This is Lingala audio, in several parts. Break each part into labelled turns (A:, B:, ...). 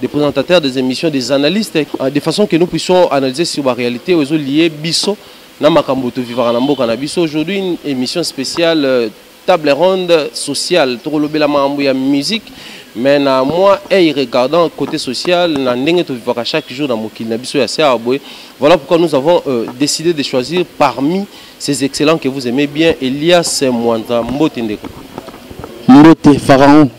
A: des présentateurs des émissions des analystes euh, de façon que nous puissions analyser sur la réalité ozo lié biso na makambo to vivaka na mboka na biso aujourd'hui une émission spéciale euh, table ronde sociale tokolobela makambo ya musique mais na moi hey, regardant côté social na ndenge tovivaka chaque jour na mokili na biso ya siaa boye voilà pourquoi nous avons euh, décidé de choisir parmi ces excellents que vous aimez bien elias mwanda mbote ndeko mbote pharaon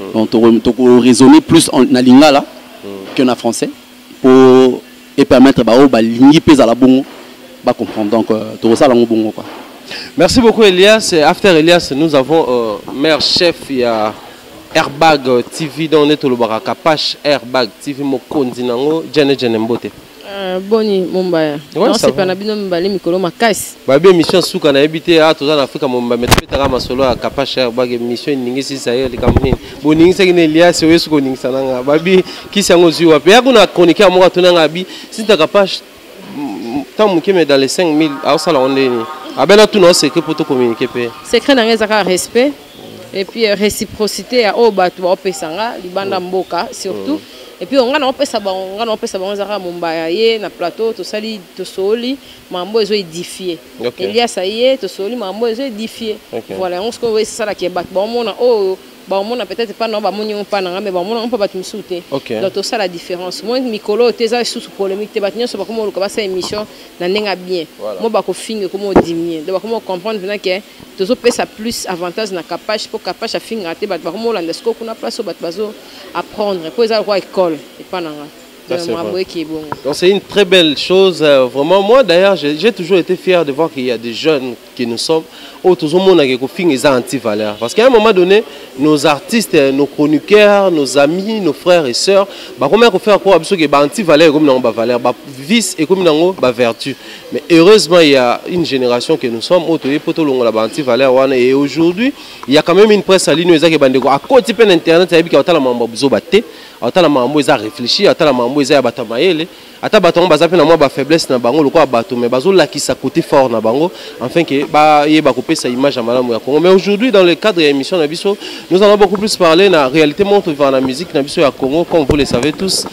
B: mm. donc toko toko raisonner plus en, na lingala mm. que na français pour et permettre ba o ba lingi pesa la bongo ba comprendre donc euh, toko sala ngo bongo quoi Merci beaucoup
A: Elias. After Elias, nous avons euh, maire chef il y a Airbag TV dans le Tolobara Kapash Airbag TV Mokondi Nango Djene Djene Mbote. Euh, boni
C: mombaya naosepa na bino mibale mikolo makasi babi émission suka
A: nayebi te a toza na afrika momba me tobetaka masolo ya kapasha obaka émission eningisi zaire likambo nini boningisaki na eliasi oyo esuki oningisa na nga babi kisi yango ozwi wapi ya kuna chroniquer moko atuna nga abi sita kapasha ntango moke me dans les 5000 aosala ngo nde nini abela tuna o secret mpo tocommunike mpe secret na nga ezaka
C: respect et puis euh, réciprocité ya oyo bato baopesa nga libanda oh. mboka surtout oh. et puis nga naopesa bango nga naopesa bango ezaka mombaya ye na plateau tosali tosooli mambo ezo édifie okay. elias aye tosooli mambo ezo édifie okay. voilà yango sikoyo esalaki bato baomona oyo oh, baomona peut-être mpa nao bamoni yango mpa na nga mais baomona yango mpa bato mosusu te donc tosala différence moi mikolo oyo te eza lisusu polémique te bato nyonso bakoma oluka basala émission na ndenge ya bien mo bakofinga ekoma odimie donc bakoma ocomprendre mpena ke tozo pesa plus avantage na kapash po kapash afingaka te bato bakomolanda sikoyo kuna place oyo bato bazo apprendre po eza lokola ekole epa na nga
A: Donc c'est une très belle chose, euh, vraiment. Moi d'ailleurs, j'ai toujours été fier de voir qu'il y a des jeunes qui nous sommes. Oh, tout le monde a des anti-valeurs. Parce qu'à un moment donné, nos artistes, euh, nos chroniqueurs, nos amis, nos frères et sœurs, bah, comment on fait quoi Parce que bah, anti-valeurs, comme dans valeur, bah, vice et comme dans bah, vertu. Mais heureusement, il y a une génération que nous sommes, autre et poto longola ba anti-valeur wana et aujourd'hui, il y a quand même une presse à ligne ezaki bandeko à côté pe internet ça yebika otala mambo buzo batte, otala mambo eza réfléchi, otala mambo eza ya bata mayele, ata bato yango baza pe na mwa ba faiblesse na bango lokola bato mais bazo lakisa côté fort na bango enfin que ba ye ba kopesa image ya malamu ya Congo. Mais aujourd'hui dans le cadre ya émission na biso, nous allons beaucoup plus parler na réalité montre vivant la musique na biso ya Congo comme vous le savez tous.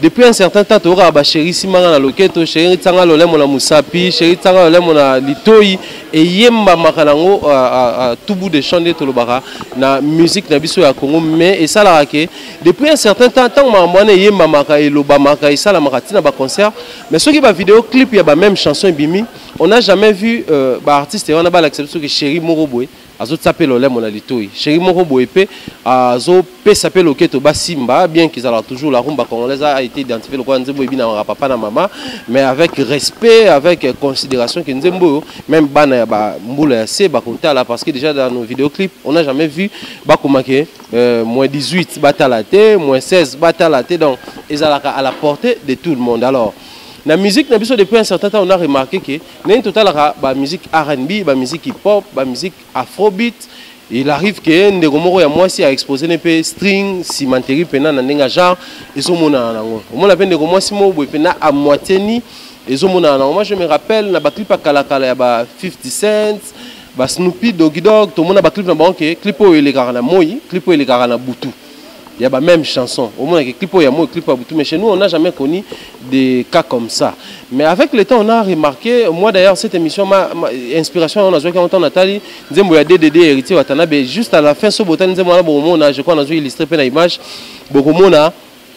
A: Depuis un certain temps toyokaka ba chéri simba nga na loketo chéri tsanga lolemo na musapi chéri tsanga lolemo na litoyi eyembamaka nango uh, uh, uh, tout bout de champ nde tolobaka na musique na biso ya congo mais esalaka ke depuis un certain temps ntango makambo wana eyembamaka elobamaka esalamaka ntina baconcert mais soki bavideo clip ya bameme chanson ebimi on a jamais vu euh, baartiste wana balakisa biso ke chéri moko boye azotia mpe lolemo na litoi sheri moko boye mpe azopesa mpe loketo basimba bien kizalaka toujours la rumba congolaise a été identifié lokola nzembo ebinamaka papa na mama mais avec respect avec considération ke nzembo oyo même bana ya bambula ya se bakotala parce que déjà dans nos vidéoclips on a jamais vu bakoma ke euh, moins 18 batala te moins 16 batala te donc ezalaka à la portée de tout le monde alors na musique na biso depuis un certain temps on a remarqué que nani totalaka ba musique rnb ba musique hip hop ba musique afrobeat il arrive ke ndeko moko ya mwasi a expose ne mpe string cimenterie mpena na ndenge ya genre ezomonana nango omona mpe ndeko mwasi moko boye mpena a moitié ni ezomonana nango moi je me rappelle na baclip ya kalakala ya ba 50 cents ba snoopy dogidog tomona baclip na bango ke clip oyo elekaka na moi clip oyo elekaka na butu Il y a la même chanson. Au moins, clip au Yamo, clip à Boutou. Mais chez nous, on n'a jamais connu des cas comme ça. Mais avec le temps, on a remarqué, moi d'ailleurs, cette émission, ma, ma inspiration, on a joué quand on a tali, Nzembo ya DDD, héritier Watanabe, juste à la fin, ce botan, Nzembo ya Bomona, je crois, on a joué illustré plein d'image, Bomona,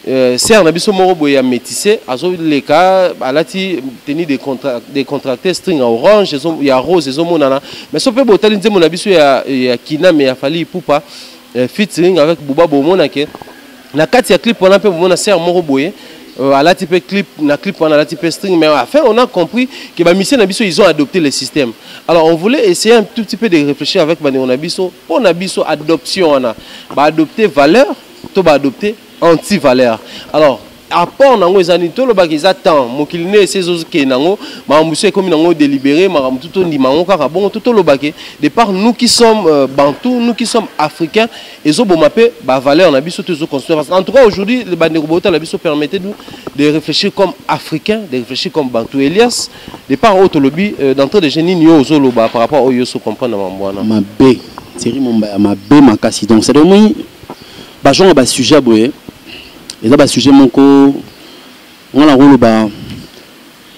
A: euh, serre na biso moko boye ya métissé azoleka alati tenue de contra, de contracté string ya orange ya rose ezomonana mais so mpe botali nzembo na biso ya, ya kiname ya fali ipupa eh, featuring avec Booba bomona ke na kati ya clip wana mpe bomona sœur moko boye euh, alati mpe clip na clip wana alati mpe string mais enfin on a compris que bamisien na biso ils ont adopté le système alors on voulait essayer un tout petit peu de réfléchir avec bandeko na biso mpo na biso adoption wana baadopte valeur to baadopte anti valeur alors apport nango eza nini tolobaka eza temps mokili nde esi ezokende nango makambo so ekomi nango délibéré makambo tu tondima yango kaka bongo to tolobake de part nous qui sommes euh, bantou nous qui sommes africains ezoboma mpe bavaleur na biso to ezoconstruire parce en tout cas aujourd'hui bandeko botala biso permettez nous de réfléchir comme africain de réfléchir comme bantou elias de part oyo tolobi euh, d'entrée de jeu nini yo ozoloba par rapport oyo oso comprendre na mambo wana mabe
B: thierry mombaya mabe makasi donc c'est-à-dire moi bazonga basujet boye eza ba sujet moko nga na koloba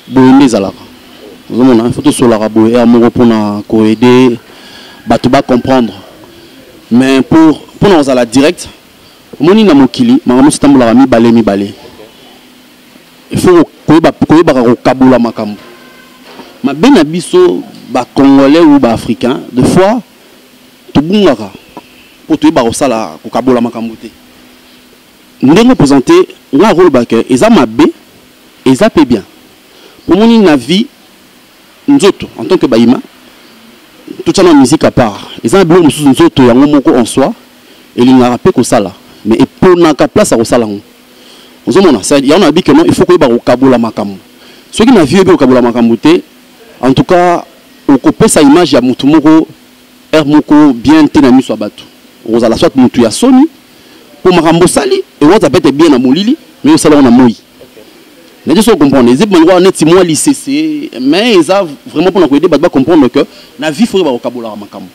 B: boye nde ezalaka ozomona ifo tosolaka boye heure moko mpona koaide bato bacomprendre mais pour mpona kozala direct omoni na mokili makambo mosi etambolaka mibale mibale ifo koyebaka kokabola makambo mabe na biso bacongolais ou baafricain de fois tobungaka mpo toyeba kosala kokabola makambo te Ndenge opresente nga nakoloba que eza mabe eza pe bien po omoni na vie nzoto en tant que bayima totia mwa musique à part eza na biloko mosusu nzoto yango moko en soi elingaka pe kosala mais eponaka place ya kosala yango ozomona c'est yango nalobi que non il faut koyeba kokabola makambo soki na vie oyebi kokabola makambo te en tout cas okopesa image ya motu moko heure moko bien te na miso ya bato okozala soit motu ya soni mpo makambo osali ewata pete bien na molili mais osala yango na moi naye so comprendre eza bango neti mwa lisese mais eza vraiment mpona koyede bato bacomprendre que na vie foke bakokabolaka makambo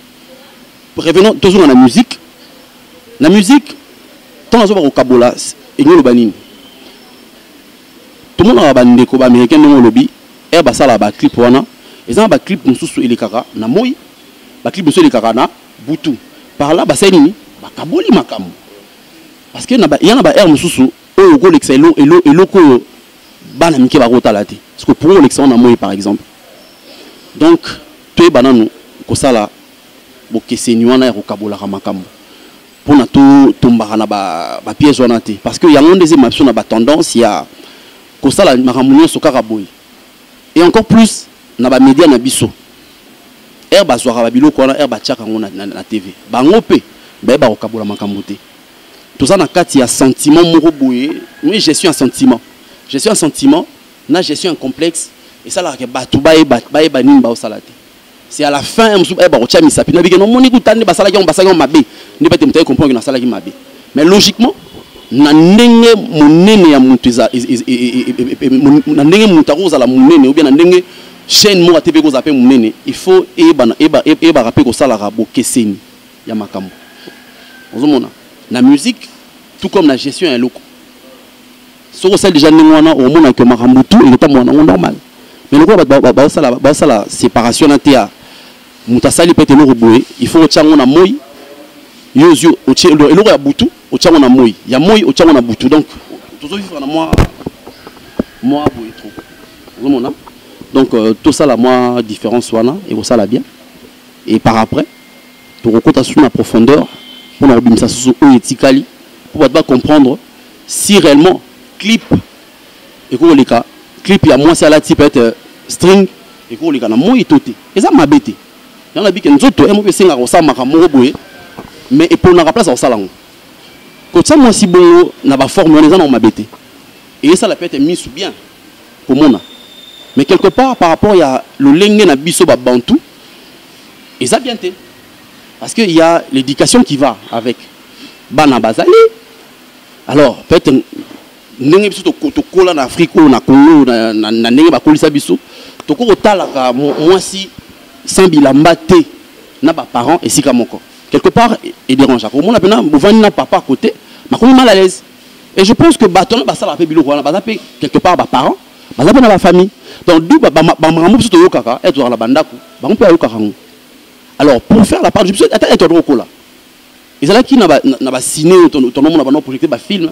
B: revenons tozonga na musique na musique ntango azoba kokabola elingi oloba nini tomonaka bandeko baaméricain ndenge olobi ere basalaka baclip wana eza na baclip mosusu elekaka na moi baclip mosusu elekaka na butu par là basali nini bakaboli makambo parce que ya na baheure mosusu oyo okolekisa eloko oyo bana mike bakotala te parceke mpo kolekisa wana moi par exemple donc toyeba nanu kosala bokeseni wana ya kokabolaka makambo mpona totombaka na bapiège wana te parce que yango nde ezema biso na batendance ya kosala makambo nyonso kaka boye et encore plus na ba media na biso heure bazwaka babiloko wana heure batiaka yango na, na, na tv bango mpe bayeba kokabola makambo te toza na kati ya sentiment moko boye moi gestion ya sentiment gestion ya sentiment na gestion ya complexe esalaka ke bato bayeba, bayeba nini baosala te c'est à la fin ya mosusu baye bakotya misapi na bikeno omoni kuta nde basalaki yango basalaki yango mabe nde bete moto aye comprendre kino asalaki mabe mais logiquement na ndenge monene ya moto eza na ndenge moto akozala monene obia na ndenge chaîne moko ate mpe ekozala mpe monene il faut eyebaka mpe kosalaka bokeseni ya makambo ozomona na musique tout comme na gestion ya eloko soki osali deja ndenge wana okomona ke makambo tu ekotambola nango normal mais lokola bato basala séparation na tea moto asali pete eloko boye il faut otya yango na moi yo ozwi otye eloko ya butu otya yango na moi ya moi otya yango na butu donc tozovivre na mwa mwa boye trop ozomona donc euh, tosala mwa différence wana ekosala bien et par après tokokota susu na profondeur mpo na kobimisa susu oyo etikali mpo bato bacomprendre si réellement clip ekoki koleka clip ya mwasi alati peut-être euh, string ekoki koleka na moi to te eza mabe te yango nabi ke nzoto ye moko esengaka kosala makambo moko boye mais eponaka place ya kosala yango kotya mwasi bongo na baforme wana eza nango mabe te eyesala peut-être misu bien komona mais quelque part par rapport ya lolenge na biso babantu eza bien te parce que ya l'éducation qui va avec bana bazali alors peut-être ndenge biso tokola na afrique oyo na congo na ndenge bakolisa biso tokoki kotalaka mwasi sans bilamba te na baparent esika moko quelque part edérangea komona mpena bovandi na papa côté makomi mal à l'aise et je pense que bato wana basalaka mpe biloko wana baza mpe quelque part baparent baza mpe na bafamille donc du bamakambo biso toyokaka e tozalaka na bandako bango mpe bayokaka yango alors pour faire la part biso ata e toyaka tokokola ezalaki na ba na ba ciné oyo tonomona bana projecte ba film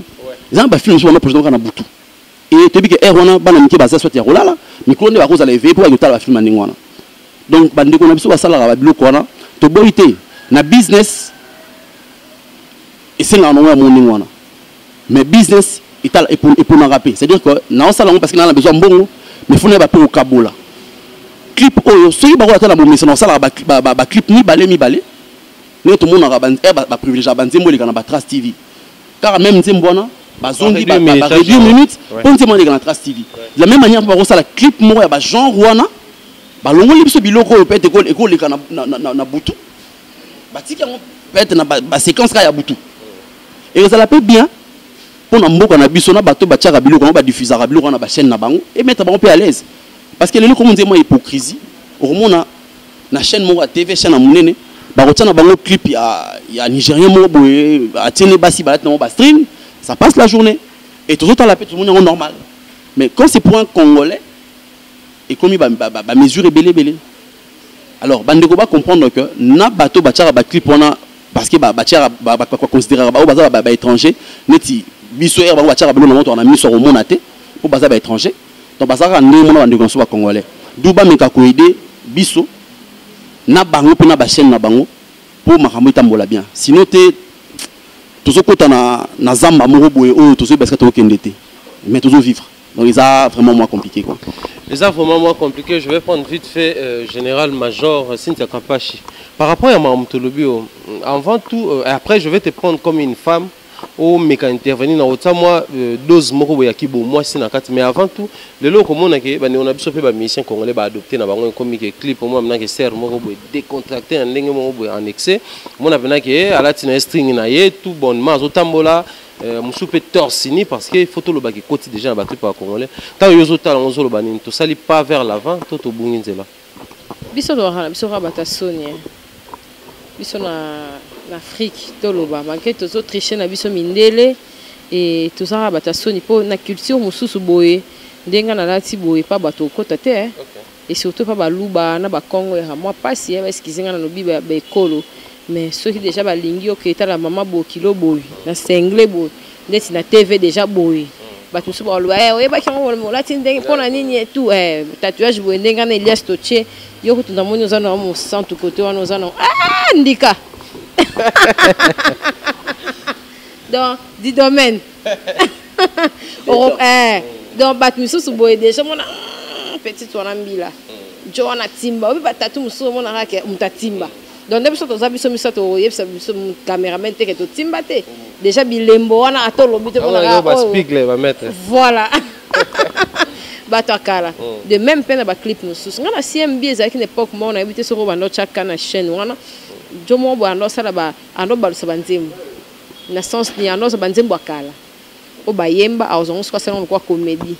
B: eza na ba film mosusu bana projecte kaka na butu e toyebi ke heure wana bana mike baza soit ya kolala mikolo nde bakozala eveye mpo bakotala ba film ya ndenge wana donc bandeko na biso basalaka babiloko wana toboyi te na business esengaka nango ya mo ndenge wana mais business etala eponaka mpe c'est à dire que naosala yango parce que naa na besoin mbongo mais fona yeba mpe okabola clip oyo soki bakola ata na bomesana osalaka baclip mibale mibale ndenge tomonaka ba privilegiaka ba nzembo eleka na ba trace tv kaka meme nzembo wana bazongi ba radio minute mpo nzembo wana eleka na trace tv de la même manière mpo bakosala clip moko ya ba genre wana balongoli biso biloko oyo peut ekoleka na, na, na, na butu batiki yango peut na baséquence ba kaka ya butu ekozala mpe bien mpo na mboka na biso na bato batiaka biloko yango badifusaka biloko wana na bachaîne na bango emettre bango mpe à l'aise parce que lelo komo nzembo ya hypocrisie okomona na chaîne moko ya tv chaîne ya monene bakotia na bango clip ya, ya nigérien moko boye atie nde basi balati nango bastring ça passe la journée et tozotala mpe tomoni yango normal mais quand c'est pour un congolais ekomi bamesure ebele ebele alors bandeko bacomprendre que na bato batiaka baclip wana parce que batiaka baconsideraka baoyo baza baétranger neti biso ere bango batiaka biloko na moto wana miso ya komona te mpo baza baétranger Donc bazalaka ndenge mona bandeko na so ba congolais. D'où bameka ko aider biso na bango mpe na ba chaîne na bango mpo makambo etambola bien. Sinon te tozokota na, na zamba moko boye oyo tozoyeba esika tokokende te mais tozo vivre donc eza vraiment moins compliqué quoi eza vraiment moins
A: compliqué je vais prendre vite fait euh, général major euh, Cynthia Kapashi par rapport à makambo tolobi oyo euh, avant tout euh, après je vais te prendre comme une femme omeka intervenir na otia mwa euh, dose moko boye ya kibo mwasi na kati mais avant tout lelo okomona ke bandeko na biso mpe bamusicien congolais baadopte na bango ekomi ke clip omona mpenza ke serre moko boye décontracté ya ndenge moko boye en excès omona mpenza ke eh, alati na ye string na ye tout bonnement azotambola euh, mosusu mpe torsini parce que faut tolobaka ekoti déjà na baclipe ya congolais ntango yo ozotala yango ozoloba nini tosali pas vers l'avant to tobungi nzela biso
C: loraka na biso kaka bato ya soni eh. biso na na afrique toloba malgre tozo triche na biso mindele e toza kaka bato ya soni mpo na culture mosusu boye ndenge nalati boye mpa bato okota te eh. okay. et surtout mpa baluba na bakongo yaka mwa mpasi eh, baeskize ngai nalobi baekolo ba Mais soki dejà ba lingi yo ke tala maman bokilo boye na single boye ndeti na TV dejà boye bato mosusu bakoloba eh, oyebaki yango olati ndenge mpo na nini etu eh, tatouage boye ndenge wana elias totie yo kutu namoni oza na mosantu kote wana oza na ah, ndika donc di domaine eh, donc bato mosusu boye deja mona hmm, petite wana mbila hmm. jo wana timba oyebi batatu mosusu omonaka ke moto atimba donc nde biso toza biso misato oyebisa biso cameraman te ke totimba te déjà bilembo wana ata olobi te ah, oh.
A: voilà
C: bato ya kala oh. de même mpe na baclip mosusu ngai na cmb ezalaki na époque moko nayebi te soki obanda otyaka na chaîne wana jo moko boye ando asala ando obalusa banzembo na sens ni ando aza banzembo ya kala oyo bayemba akozwa yango soki asali yango lokola komedi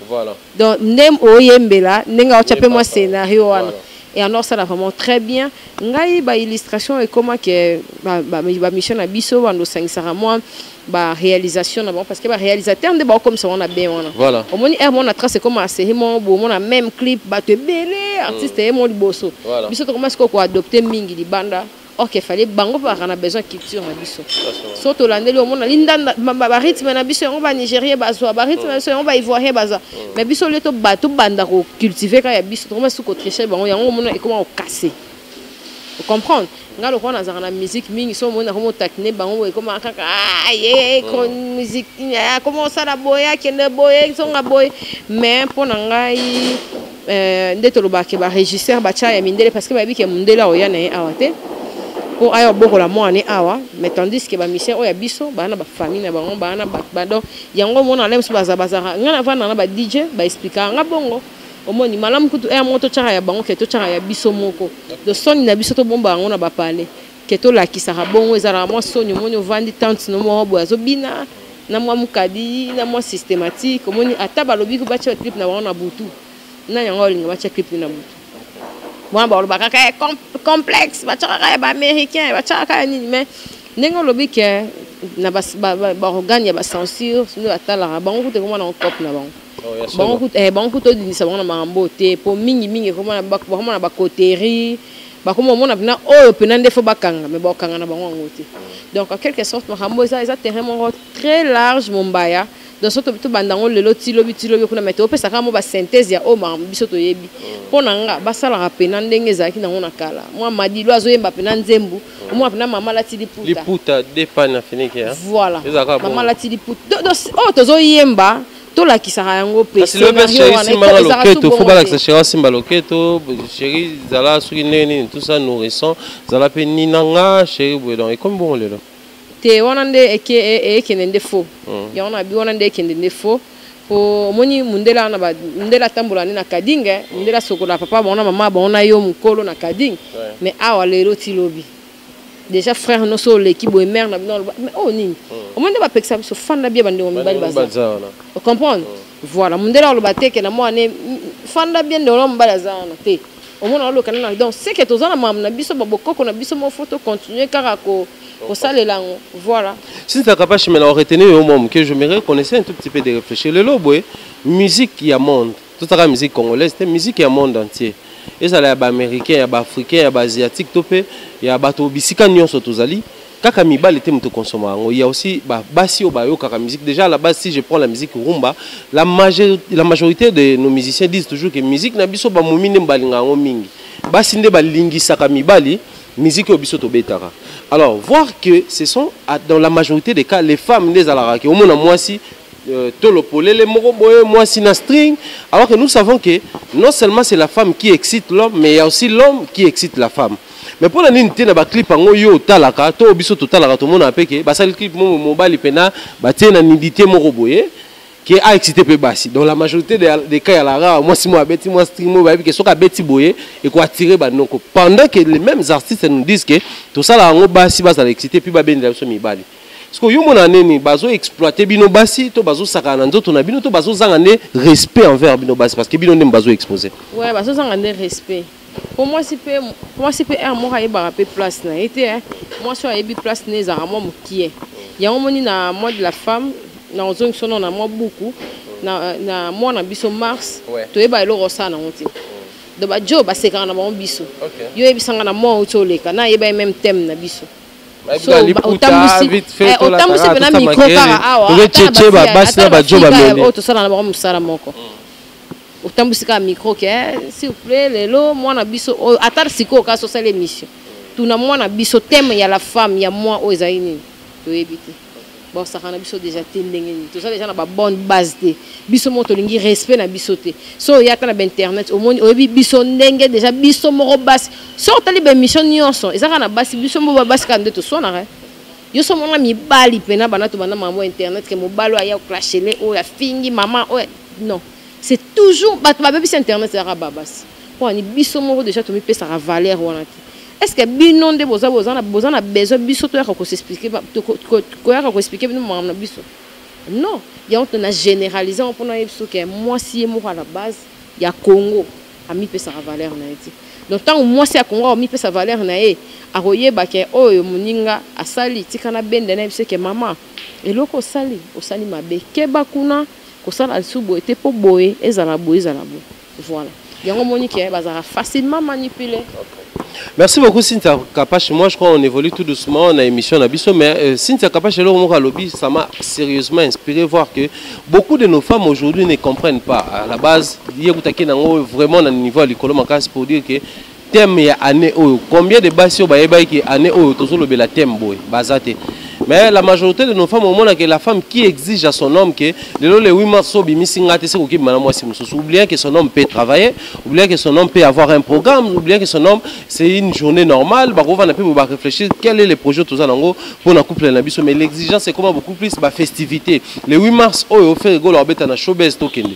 C: donc nde oyembela ndenge aotya mpe mwa scénario wana et alors ça là vraiment très bien ngai ba illustration ekoma ke ba, ba, ba mission na biso bando sangisaka moi ba réalisation na bango parce que ba réalisateur nde ba comme ça on a bien wana voilà au moins er mona
A: trace
C: comme à série mon bo mona même clip ba te belé artiste mm. et mon liboso voilà. biso to commence ko adopter mingi libanda ok fale bango mpe baka na besoin culture na biso so tolandeli omona lindanda barythme na biso yango banigerien bazwa barythme na biso yango baivoirien bazwa mm. mais biso le tobanda kocultive kaka ya biso tokoma su kotriche bango yango omona ekoma kokase ocomprendre ngai lokola nazalaka na musique mingi so omoni nakoma otakine bango boye ekoma kaka ah, ye mm. musike akoma osala boye akende boye zonga boye mais mpo na ngai Euh, nde tolobaka ke barégisseur batya ya mindele parce que bayebi ke mondele aoya na ye awa te mpo aya obokola mwana ne awa mais tandis ke bamisien oyo ya biso baa na bafamille na bango baa na bato badon yango omona ala mosusu baza bazaka ngai navanda na ba dj baexplikaka nga bongo omoni malamu kutu aya moko totyaka ya bango ke totyaka ya biso moko do soni na biso tobomba yango na bapale ke tolakisaka bongo ezalaka mwa soni omoni ovandi tante no moko boye azobina na mwa mokadi na mwa systématique omoni ata balobi ko batya clip na bango na butu nani yango olinga batya clip na butu wana balobaka kaka eh, complexe batyaka kaka ya baaméricain batyaka kaka nini mais ndenge olobi ke na baorgane ya bacensure nde batalaka bango kutu ekomona ngo cope na bango bango eh, kuta odindisa bango na makambo oyo te mpo mingimingi bakoma na bacoterie bakoma omona mpena oyo mpena nde fo bakanga me bakokanga na bango yango te donc en quelque sorte makambo eza eza terrain moko très large mombaya donc so tobanda yango lelo ti lobi ti lobi kuna me topesa kaka mo basynthèse ya oyo makambo biso toyebi mpo na nga basalaka mpena ndenge ezalaki nango na kala mwa madilo azoyemba mpena nzembu omona mpena mama alati liputa
A: voilà mama
C: alati liputa oyo tozoyemba tolakisaka yango mpe kasi leo mpe sheri simbanga
A: loketo fo balakisa sheri asimba loketo sheri zala soki ndenge nini tout ça nourrissant zala mpe nina nga sheri boye donc ekomi bongo lelo te wana nde
C: ekende nde fo hmm. yango na bi wana nde ekende nde fo po omoni mundele wana mundele atambola nde na kadinge mundele asokola papa bango na mama bango na yo mokolo na kadinge mais awa lelo ti lobi déjà frère no so oleki boye mère na bino aloba mais oyo nini hmm. omoni nde bapekisa biso fanda bia bandeko mibali baza ocomprendre hmm. voilà mondele aloba te ke na mwana fanda bia ndeko na mobali aza wana te omona oloka nana donc seke toza na mamu na biso babokoko na biso moko fo tocontinue kaka ko kosalela yango voilà sinta kapashi
A: mela oretenir yo mwa moke je me reconnaissais un tout petit peu de réfléchir lelo boye musique ya monde totaka musique congolaise te musique ya monde entier ezala ya baaméricain ya baafricain ya baasiatique to mpe ya bato bisika nyonso tozali kaka mibali te moto konsoma yango ya aussi basi oyo bayokaka musique déjà la base si je prends la musique rumba la, major, la majorité de nos musiciens disent toujours que musique na biso bamomi nde balinga yango mingi basi nde balingisaka mibali musique oyo biso tobetaka alors voir que ce sont dans la majorité des cas les femmes nde ezalaka ke omona mwasi Euh, tolo polele moko boye mwasi na string alors que nous savons que non seulement c'est la femme qui excite l'homme mais il y a aussi l'homme qui excite la femme mais mpo na nini te na baclip yango yo otalaka to biso totalaka tomonaka mpe ke basali clip moko mobali mpena batie na nidite moko boye ke a excité mpe basi donc la majorité des cas ya lara mwasi moko abeti mwa string moko bayebi ke soki abeti boye ekoattire banoko pendant que les mêmes artistes nous disent ke tosalaka yango basi bazala excité mpe babendela biso mibali sikoyo yo mona nini bazo exploite bino basi to bazo sakana na nzoto na bino to bazo zanga nde respect envers bino basi parce que bino nde bazo expose ouais bazo zanga nde
C: respect po mwasi mpe mwasi mpe heure moko ayebaka mpe place na ye te eh. mwasi oyo ayebi place na ye ezalaka mwa mokie yango moni na mois de la femme na ozongisa ono na mwa buku na, na mwa na biso mars ouais. toyeba eloko osala nango te donc bajo basekaka na bango biso okay. yo oyebisanga na mwa outi oleka na ayeba ye meme teme na biso otambwisi mpena mikro kaka awa basi na
A: bajo bameli oyo tosala na bango mosala
C: moko otambwisi kaka mikro ke eh, s'il vous plaît lelo mwana biso oyo ata sikoyo kasi osala émission tuna mwana biso teme ya la femme ya mwa oyo ezali nini toyebi te bosaka na biso deja te ndenge nini toza deja na babonne base te biso moko tolingi respect na biso te so oya ata na bainternet omoni oyebi biso ndenge deja biso moko basi so otali baémission nyonso eza kaka na basi biso moko babasi kaka nde toswanaka yo so omona mibali mpena bana tobanda mambo internet ke mobali oyo aya clashele oyo afingi mama oyo non C'est toujours bato babebisi internet ezalaka babasi mpo ani biso moko deja tomipesaka valeur wana te est-ce que bino nde boza boza na boza na besoin biso toyaka ko s'expliquer koyaka ko expliquer bino makambo na biso non yango tona généralise yango mpona yebi biso ke mwasi ye moko à la base ya Congo amipesaka valeur na ye te donc ntango mwasi ya Congo amipesa valeur na ye akoyeba ke oyo moninga asali tika na bende na ye biso ke mama eloko osali osali mabe keba kuna kosala lisusu boye te mpo boye ezala boye ezala boye voilà yango omoni ke bazalaka facilement manipule Merci
A: beaucoup Cynthia Kapash. Moi je crois on évolue tout doucement dans l'émission Nabiso, mais euh, Cynthia Kapash et Laurent Lobby, ça m'a sérieusement inspiré voir que beaucoup de nos femmes aujourd'hui ne comprennent pas. À la base, il y a vraiment un niveau à l'école pour dire que thème ya année oyo combien de basi oyo bayebaki ke année oyo tozolobela thème boye baza te mais la majorité de nos femmes omona que la femme qui exige à son homme que lelo le 8 mars so bimisi nga te se kokima na mwasi mosusu oubliant que son homme peut travailler oubliant que son homme peut avoir un programme oubliant que son homme c'est une journée normale bakovanda mpe ba réfléchir quel est le projet toza nango mpo na couple na biso mais l'exigence ekoma beaucoup plus ba festivités le 8 mars oyo ferre golo abeta na showbase tokende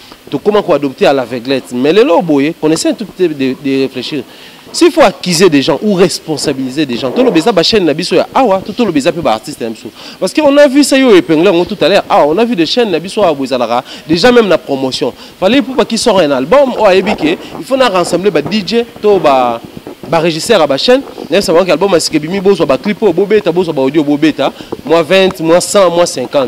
A: tokoma ko adopter à l'aveuglette mais lelo oyo boye qu'on essaie un tout petit peu de, de réfléchir s'il faut accuser des gens ou responsabiliser des gens toloba eza bachaîne na biso ya awa to toloba eza mpe baartiste na biso parce que on a vu ça yo epingle yango tout à l'heure awa on a vu des chaînes na biso awa boezalaka déjà même na promotion fallait ipupa qui sort un album oyo ayebi ke il faut na rassembler ba dj to ba barégisseur ya bachaîne nayebisa bango ke album asika ebimi bozwa baclip oyo bobeta bozwa baaudio bobeta mwa 20 mwa 100 mwa 50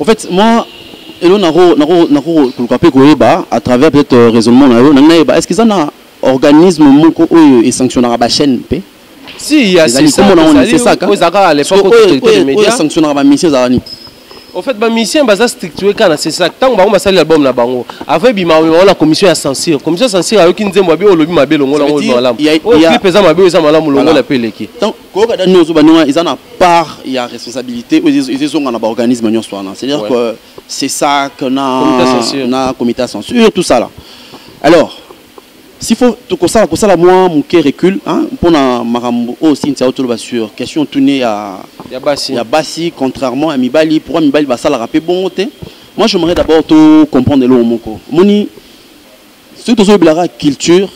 B: En fait, moi, elo nako nako nako koluka pe koyeba à travers peut-être euh, raisonnement na yo na nayeba est-ce que ça na organisme moko oyo e sanctionnera ba chaîne pe si il y a
A: c'est ça c'est ça ko zaka à l'époque ko te media sanctionnera
B: ba mission za ni au fait
A: ba mission baza structuré kana c'est ça tango bango basali album na bango avant bima on la commission ya censure commission censure ayoki nzembo abi olobi mabe longola ngo malamu il y a il y a pesa mabe eza malamu longola pe
B: leki donc koyoka da nioso baninga eza na part ya responsabilité oyo ezezonga na baorganisme nyonso wana c'est à dire que c'est ça que na comité ya censure tout ça là alors s'il faut tokosala kosala mwa moke recule mpo na makambo oyo sintia otoloba sur question tune ya basi contrairement ya mibali pourquoi mibali basalaka mpe bongo te moi j'aimerais d'abord to comprendre eloko moko omoni soki tozolobelaka culture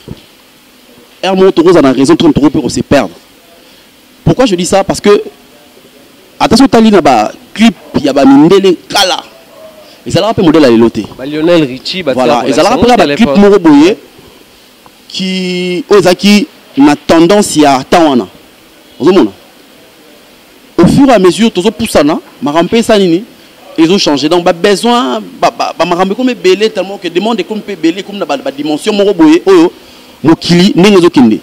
B: Heure moko toko za na raison tout toko peut se perdre. Pourquoi je dis ça parce que attention tali na ba clip ya ba mindele kala. Ezalaka pe modèle ya lelo te. Ba Lionel Richie ba
A: Voilà, ezalaka pe ba
B: clip moko boye qui oyo ezalaki na tendance ya temps wana. Ozomona? au fur et à mesure tozo pusana makambo mpe esa nini ezo changer donc babesoin bamakambo ekomi ebele tellement que demande ekomi mpe ebele ekomi na badimension moko boye oyo mokili ndenge ezokende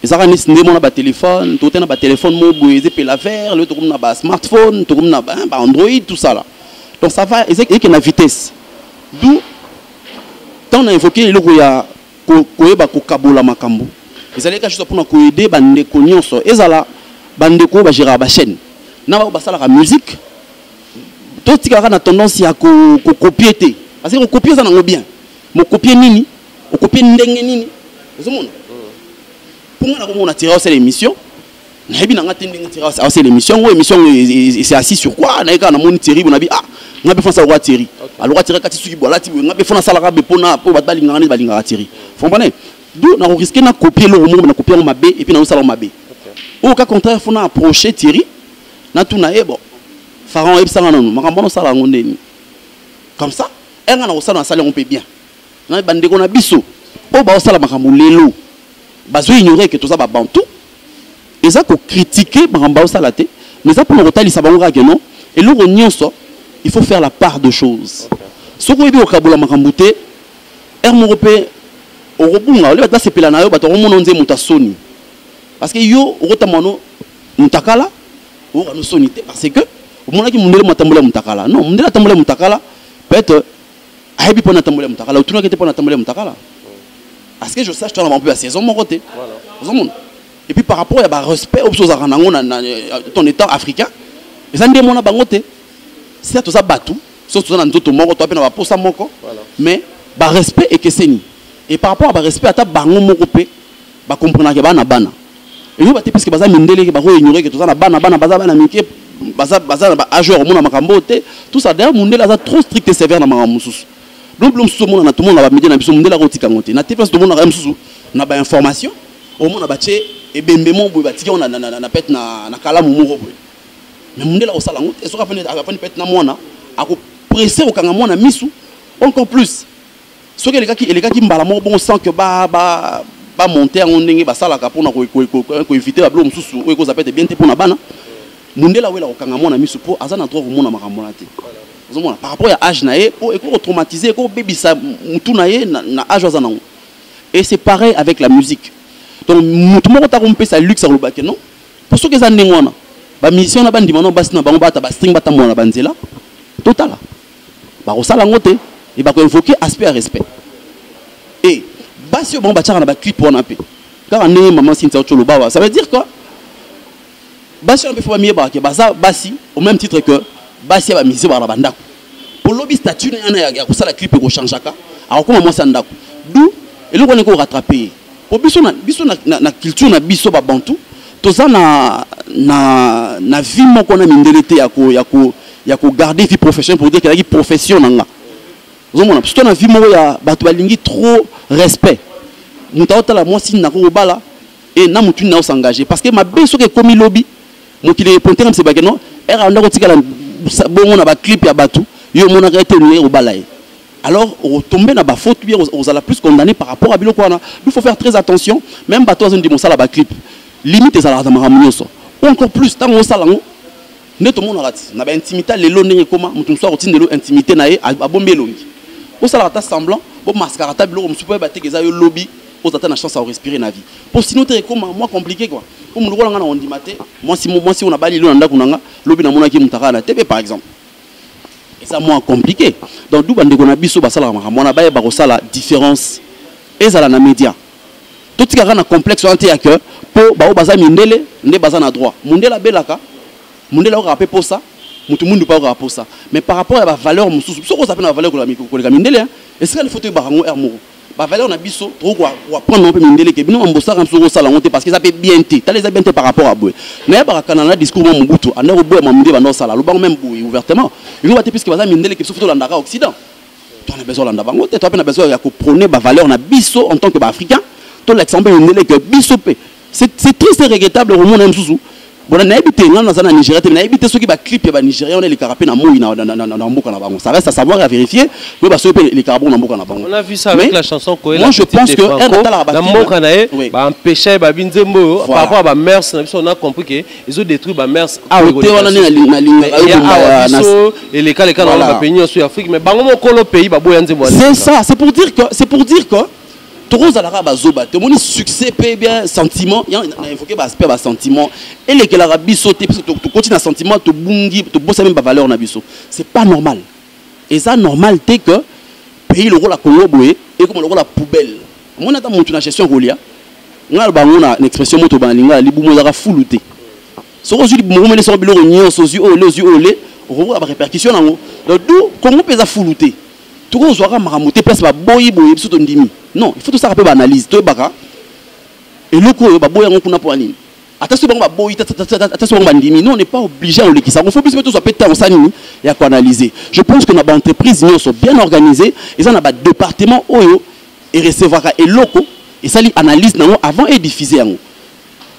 B: ezalaka nisi nde mona batelefone tote na batelefone moko boye eza epela vert lelo tokomi na basmartphone tokomi na baandroid tout ça là donc ça va ezeke na vitesse d'où ntango na évoke eloko ya ko, koyeba kokabola makambo ezali kaka mpona koede bandeko nyonso ezala bandeko oyo bageraka bachaîne na baoyo basalaka musique totikalaka na tendance ya kokopie te parce que kokopie eza nango bien mokopie nini okopie ndenge nini ozomona mpo ngai nakomona tira osala émission nayebi na nga te ndenge tiri asala émission yango émission yango c'est assis sur quoi naye kaka namoni tiri bo nabi ah nga mpe fana asalaka tiri aloka tiri akati suki bo alati boye nga mpe fana asalaka be mpona mpo bato balingaka nde balingaka tiri fombane do nakoriske na kopie eloko moko na kopie yango mabe epuis naosala yango mabe oyo ka contraire fona approche tiri natuna ye eh, bo pharaon oyebisanga nanu makambo wana osala yango ndeni comme ça enga nakosala nasali yango mpe bien na bandeko na biso oyo baosala makambo lelo bazo ignore ke toza babantu eza kokritike makambo baosala te mais eza mpona kotalisa bango kaka non eloko nyonso il faut faire la part de choses soki oyebi kokabola makambo te r moko mpe okobunga ole bato basepela na yo bato akomona onze moto asoni parce que yo okotambola no mutakala oyoka no soni te parce que omonaki mundele matambola mutakala non mundele atambola mutakala peut-être ayebi mpo na tamboli ya mutakala otunaki te mpo na tamboli ya mutakala à ce que je sache tozala mpe ya saison moko te ozomona et puis par rapport ya barespect oyo biso ozalaka nango na euh, ton état africain eza nde mona bango te sia toza bato soki toza na nzoto moko toa mpe na baposa moko mais barespect ekeseni et par rapport ya barespect ata bango moko mpe ba comprenaka ke bana bana eyo bate puisque baza mindele ke bako ignorer ke toza na bana bana baza bana mike baza baza na ba age ya komona makambo oyo te tout ça d'ailleurs mundele aza trop strict et sévère na makambo mosusu donc bilo mosusu omonana tomona na bamidele na biso mundele akotika yango te na te place tomonaka ye mosusu na bainformation omona batye ebembe moko boye batiki yango na pete na kalamu moko boye mais mundele akosala yango te soki afandi pete na mwana akopresse kokanga mwana misu encore plus soki elekaki elekaki mbala moko bongo sans que ba ba ba monter yango ndenge basalaka mpona koevite babilo mosusu oyo ekozala pete bien te mpona bana mundele awela kokanga mwana miso mpo aza na droit komona makambo wana te ozomona par rapport ya age na ye mpo ekoki kotraumatise ekoki kobebisa motu na ye na age aza nango et c'est pareil avec la musique donc motu moko ta kompesa luxe akoloba ke non mpo soki eza ndenge wana bamusicien wana bandima nao basi na bango bata bastring batambola na banzela totala bakosala yango te e bako invoquer aspect ya respect e basi oyo bango batiaka na baclip wana mpe kaka ndenge mama sintia ocolo bawa ça veut dire quoi basi wana mpe fo bamiyebaka ke baza basi au même titre que basi ya bamize baka na bandako mpo lobi statut na yana ya kosala clip ekochangeaka akokoma mwasi ya ndako du eloko wana ekorattrape ye po biso na biso na, na, na culture na biso ba bantu toza na na na vie moko na mindele te ya ko ya ko ya ko garder vie professionnelle pour dire que la profession na nga ozomona parce que na vie moko ya bato balingi trop respect moto aotala mwasi na kokobala e na motu nini aosengage parce que mabe soki ekomi lobi mokili eponte kamse bake no ere anda kotikala bongo na baclip ya bato yo omonaka ete olingi kobala ye alors au tomber na ba faute bien aux la plus condamné par rapport à biloko wana il faut faire très attention même bato azo ndimo sala ba clip limite ezalaka na makambo nyonso ou encore plus ntango osala yango nde tomonaka ti na baintimité lelo ndenge ekoma moto mosusu akotinda elo intimité na ye abombi elongi osalaka ata semblant bomaskaka ata biloko mosusu mpo yeba teke eza yo lobi oza ata na chance ya korespire na vie mpo sino te ekoma mwa compliqué kua omo lokola ngai na kondima te mwasi mwasi oyo nabali elo na ndako na ngai lobi namonaki moto akala na tebe par exemple eza moins compliqué donc d'où bandeko na biso basalaka makambo wana bayeba kosala différence ezala na média totikaka na complexe wana te ya que mpo baoyo baza mindele nde baza na droit mondele abelaka mondele akokaka mpe posa moto mundu mpe akokaka posa mais par rapport ya bavaleur mosusu biso okozala mpe na bavaleur koleka mindele esika lifoto oyebaka yango heure moko ba valeur na biso tokoki koapprendre yango mpe mindele ke bino bambosaka biso kosala yango te parce que eza mpe bien te tala eza bien te par rapport ya boye nayebaka kanana na discours mwa mobutu anda koboya mwa mindele banda kosala alobango meme boye ouvertement eloba te puiske baza mindele ke biso fo tolandaka occident to na besoin olanda bango te to mpe na besoin ya koprone bavaleur na biso en tant que baafricain tolakisa mpe mindele ke biso mpe c'est triste et regrettable komona ye mosusu bona nayebi te ngai naza na nigeria te nayebi te soki baclip ya banigeria wana elekaka mpe na moi na mboka na bango ça reste à savoir à vérifier mais basoki mpe elekaka bongo na mboka na bango moi je pense
A: que un atalaka
B: bamboka na
A: ye baempesha ye babi nzembo oyo par rapport ya bamers na biso on a compris ke ezo détruire bamers aote wana nde
B: nalingaabiso elekaleka
A: na bapays nyonso ya afrique mais bango mokolo pays baboya nzembo c'est ça c'est pour dire
B: que c'est pour dire que tokozala kaka bazoba te omoni succès mpe bien sentiment ya na évoqué baaspect ya basentiment elekelaka biso te biso tokoti na sentiment tobungi tobosami bavaleur na biso c'est pas normal eza normal te que pays lokola congo boye ekoma lokola poubelle omoni ata motu na gestion kolia ngai aloba yango na expression moto bana lingala libumu ezalaka fulu te soki ozwi libumu okomeli soko biloko nyonso ozwi oyo le ozwi oyo le okokoka barépercussion na yango donc du congo mpe eza fulu te toko zwaka makambo te place baboyi boye biso tondimi non il faut tosaka mpe baanalyse toyebaka eloko oyo baboyi yango kuna mpo ya nini ata soki bango baboyi ata soki bango bandimi non n'est pas obligé ya kolekisa yango fo biso mpe tozwa mpe ntango sa nini ya koanalyse je pense que na baentreprise nyonso bien organisé eza na badepartement oyo erecevaka eloko esali analyse na yango avant ediffuse yango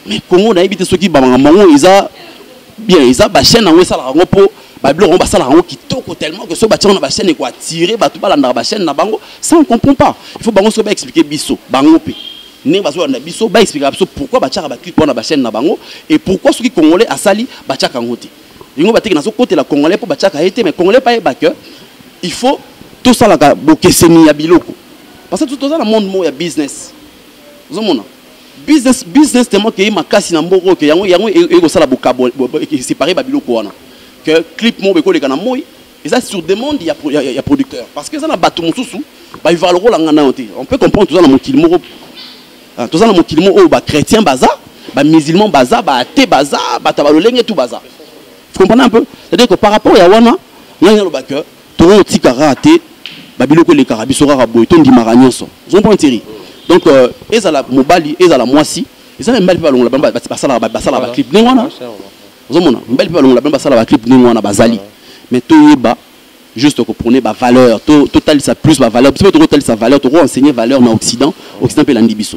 B: mais congo nayebi te soki bamakambo yango eza bien eza bachaine yango esalaka yango mpo babiloko yango basalaka yango kitoko tellement que soki batya yango na bachaine ekoatire bato balandaka bachaine na bango ça on comprend pas il faut bango soki baexplike biso bango mpe ndenge bazolanda biso baexplikaka biso pourquoi batyaka baclipe wana bachaine na bango et pourquoi soki congolais asali batyaka yango te yango bateke nazokotela congolais mpo batyaka ye te mais congolais mpe ayeba que il faut tosalaka bokeseni ya biloko parce que toza na monde moko ya business ozomona business business tellement que makasi na mboko que yango yango eko sala bokabo séparer ba biloko wana que clip mo beko leka na moi eza sur demande ya ya, ya producteur parce que ça na bato mosusu ba vivre lokola ngana yo te on peut comprendre toza na mokili moko ah, toza na mokili moko oyo ba chrétien baza ba musulman baza ba athée baza bato ya balolenge tout baza vous comprenez un peu c'est à dire que par rapport ya wana ngai naloba que toko tika kaka te ba biloko elekaka biso kaka boye to ndimaka nyonso ozo prendre teri donc euh, ezala mobali ezala mwasi ezala mibali mpe balongola bango basalaka basalaka ba clip ndenge wana ozo mona mibali mpe balongola bango basalaka ba clip ndenge wana bazali mais toyeba juste ko prôner ba valeur to to talisa plus ba valeur biso toko talisa valeur toko enseigner valeur na occident occident mpe landi biso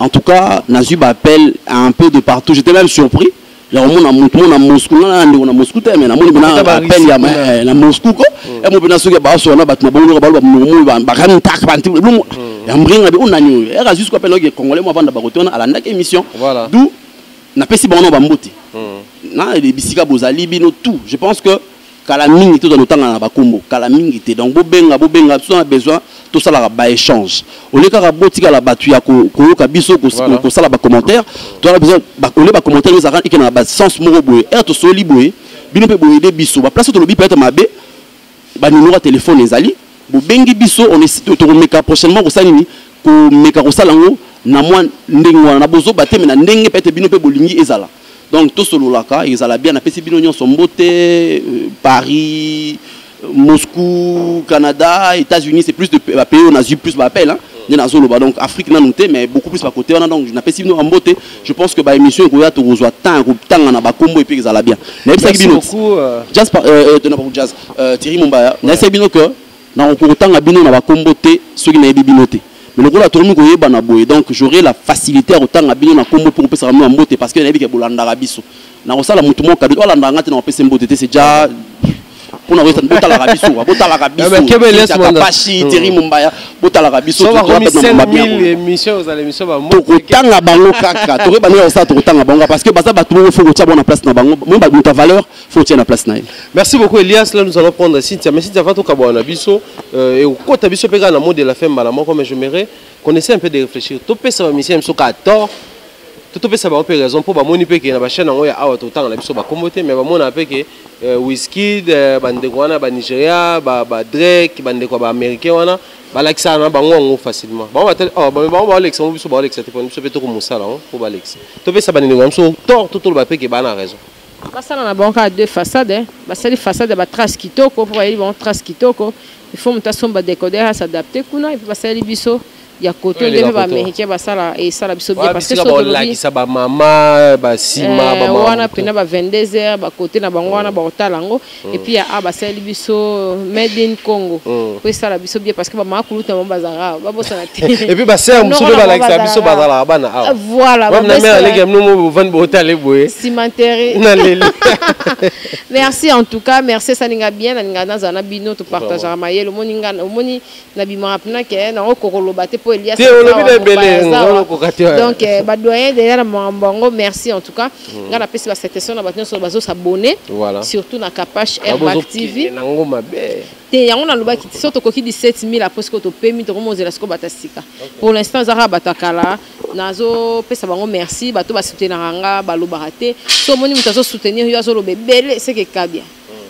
B: En tout cas, nazui ba appel un peu de partout. J'étais même surpris. Ya komona mutu mona Moscou na na ndeko na Moscou te mais na moni bana appel ya eh, na Moscou ko. Mm. Et mo bana soki ba so na batu na bongo ba ba mo ba ba kan tak ba ntibu. Mm. Ya mbringa be onani oyo. Era jusqu'à appel oyo congolais mo vanda ba kotona alanda émission. D'où na pesi bango na ba mbote. Mm. Na bisika bozali bino tout. Je pense que Kala mingi te tozali kotangana na bakombo, kala mingi te. Donc bobenga, bobenga, soki na besoin tosalaka ba echange. Au lieu kaka botikala batu ya koyoka biso kosala ba commentaire, tozalaka besoin au lieu ba commentaire oyo ezalaka ekenda na ba sens moko boye, heure tosololi boye, bino mpe bo aider biso. Ba place oyo tolobi peut-etre mabe, ba numero ya telephone ezali, bobengi biso, on est tokomeka prochainement kosala nini? Komeka kosala yango na mua ndenge wana, na bozoba te mais na ndenge peut-etre bino mpe bolingi ezala. donc tosololaka ezala bien napesi bino nyonso mbote euh, paris euh, moscou canada états-unis c'est plus de bapays oyo nazwi plus baappel nde nazoloba donc afrique nanu te mais beaucoup plus bakote wana donc napesi bino bambote je pense que baémission ekoya tokozwa temps ya kotanga na bakombo epe ezala bien nayebisaki bino euh,
A: jazz
B: thierry mombaya nayebisaki bino que Nakoki kotanga bino na bakombo te soki nayebi bino te mais lokola tokomi koyebana boye donc j'aurai la facilité ya kotanga bino na kombo mpe kopesaka bino mbote parce que nayebi ke bolandaka biso nakosala motu moko kabidi alandaka ngai te nakopesa mbote te c'est déjà mpona koyesa botalaka biso kwa botalaka bisokapashi eh hmm. teri mombaya botalaka biso
A: tokotanga bango
B: kaka tokoyeba ndenge kosala tokotanga bango parce que baza bato moko fo kotya bango na place na bango moyeba bato ya valeur faut otia na place na ye merci beaucoup elias
A: là nous allons prendre cynthia mais cynthia va tokabwana na biso euh, ekokota biso mpe kaka na mot de la fin mbala moko mais je merai qu'on essaie un peu de réfléchir topesa bamisien biso kaka tort to topesa bango mpe raison mpo bamoni mpe ke na bachaine yango ya awa totanga na biso bakombo te mais bamona mpe ke euh, wiskid euh, bandeko wana banigeria badrake bandeko ya baaméricain wana balakisaka na bango yango facilement bango oh, balekisa yango biso balekisa te mpona biso mpe tokomosala yango mpo balekisa topesa bandeko ya biso tort totoloba mpe ke bana raison basala na bango
C: kaka deux façade basali façade ya batrace kitoko mpo bayeli bango trace kitoko il faut moto asomba decoder a s'adapte kuna epuis basaleli biso ya koto nde mpe baaméricain basala esala biso bien parce que soki olakisa bamama
A: basima eh, wana mpena ba 22
C: heures bakote na bango wana bakotala yango et puis ya a basali biso made in congo mm. po esala biso bien parce que bamaka kuluta bango bazalaka awa babosana te et puis basere
A: mosusu mpe balakisa biso bazalaka bana awa ah, voilà bamna mère
C: aleki ya mnomo
A: bovandi bootale boye cimentere naleli
C: merci en tout cas merci esalinga bien nalinga nazala na bino topartagaka mayele omoni omoni na bimaka pena ke eh, nango kokoloba te mpo elias te olobi na ebele okoka te donc eh, badoyen deja na makambo yango merci en tout cas hmm. ngai napesi basatisfaction na bato nyonso bazosabone surtout na capache airbac tv nango mabe te yango nalobaki so tokoki 17000 apres sikoyo topemi tokomi ozela sikoyo bato ya sika pour l'instant eza kaka bato ya kala nazopesa bango merci bato basoutenaka nga balobaka te so omoni moto azosoutenir yo azoloba ebele seke kabia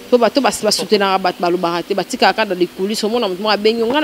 C: mpo bato basutenaka bato balobaka te batikaka kaka na likulisi omona moto moko abengi nga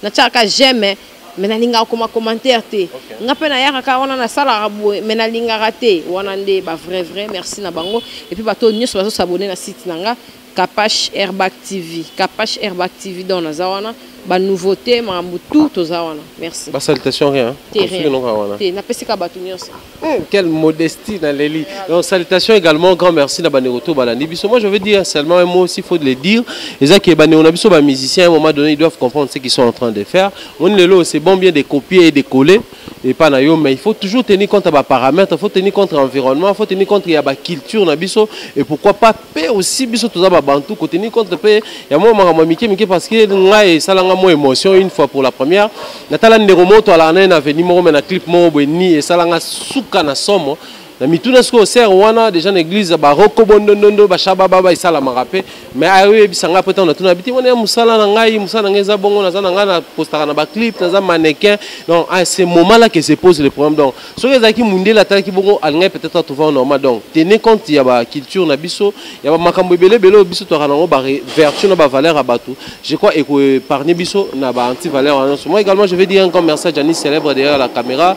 C: natyaka kaka jeme me nalingaka koma commentaire te nga mpe nayaka kaka wana nasalaka boye me nalingaka te wana nde ba vrai vrai merci na bango epuis bato oyo nyonso bazosabone na site na nga kapash airbag tv kapash airbag tv don naza wana ba nouveauté makambo tout toza wana merci ba salutation rien
A: terrain non wana te na
C: pesika bato nyonso hmm, quelle
A: modestie na leli donc salutation également grand merci na bandeko to balandi biso moi je veux dire seulement un mot aussi faut de le dire eza que bandeko na biso ba musiciens à un moment donné ils doivent comprendre ce qu'ils sont en train de faire on lelo c'est bon bien de copier et de coller et pas na yo mais il faut toujours tenir compte à paramètres il faut tenir compte à environnement il faut tenir compte à ba culture na biso et pourquoi pas pe aussi biso toza ba bantu ko tenir compte pe ya moi makambo mike mike parce que ngai sala nga moi émotion une fois pour la première na tala ndeko moto ala na avenue moko mais na clip moko boye ni et sala nga suka na somo na mituna sikoyo ser wana deja na eglise baroko bondondondo bashababa baesalamaka mpe mai ayoyebisa ngai mpo ntango natuna biti wana ya mosala na ngai mosala na ngai eza bongo naza na ngai napostaka na baclip naza manequin donc à ce moment là que se pose le problème donc soki ezalaki mondele atalaki bongo alingai peut-être atrouva normal donc tenez compte ya baculture na biso ya bamakambo ebele ebele oyo biso toyaka nango bavertu na bavaleur ya bato je crois ekoepargne biso na baantivaleur wana nyonso moi également je vais dire un grand merci à janis célèbre derrière la caméra